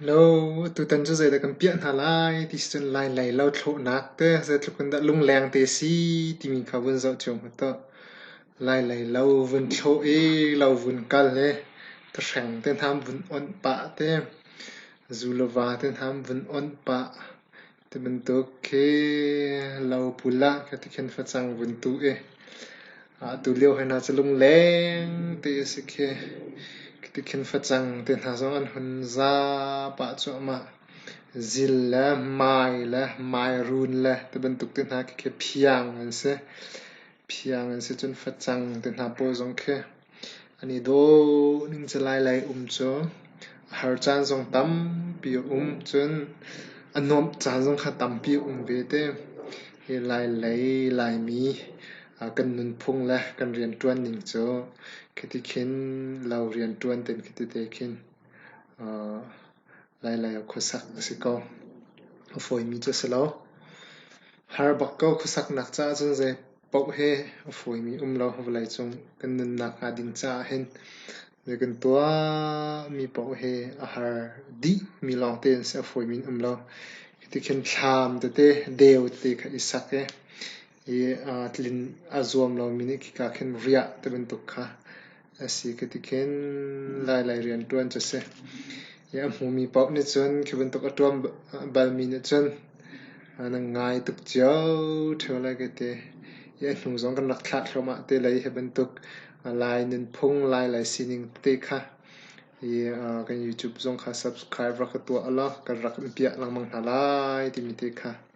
Lo, tutan cu zeidah kan piah hna lai ti si cun lainlei lothlawhnak te zeitluk in dah lungleng te si timi kha vun zoh cio mu tuah. Lainlei lo vun thlawh i lo vun kal i thahreng te hna vun onh pah te, zu le va te hna vun onh pah. Ti bantuk khi lo pul ah ka ti khin facang vun tu i atu lio hoi hna cu lungleng ti a si khi ka ti khin facang ti hna zong an hun za pah cuahmah. Zil le mai le mairun le ti bantuk ti hna khi khi phiang an si. Phiang an si cun facang ti hna pawl zong khi An i dawhning cu lailei um cu a har caan zong tampi a um. Cun a nuamh caan zong kha tampi a um ve te. Hi lailei Laimi kan nunphung le kan rianṭuan ning cu khiti khin lo rianṭuan tein khitite khin lailei ah khuasak a si ko. A fawimi cu a si lo. Har bak ko khuasaknak caah cun zei Paoh he a fawimi um lo vawleicung kan nunnak hnga ding caah hin na kan tuahmi paoh hi a har dih mi lawng te an si a fawimi in um lo. Hiti khin thlam tete, deu tete kha i sak i i tlin a zuam lomi nih khika khin riah ti bantuk kha A si ka ti khin lailai rianṭuan cu a si. I a hmumi paoh nih cun khi bantuk a ṭuan balmi nih cun an ngai tuk cio ṭheo lai ka ti. I a hnu zong kan rak thlah thluahmah te lai hi bantuk lai nunphung, lailai sining tete kha i kan YouTube zong kha subscribe rak ka tuah ulaw kan rak in piah lengmang hna lai timi te kha.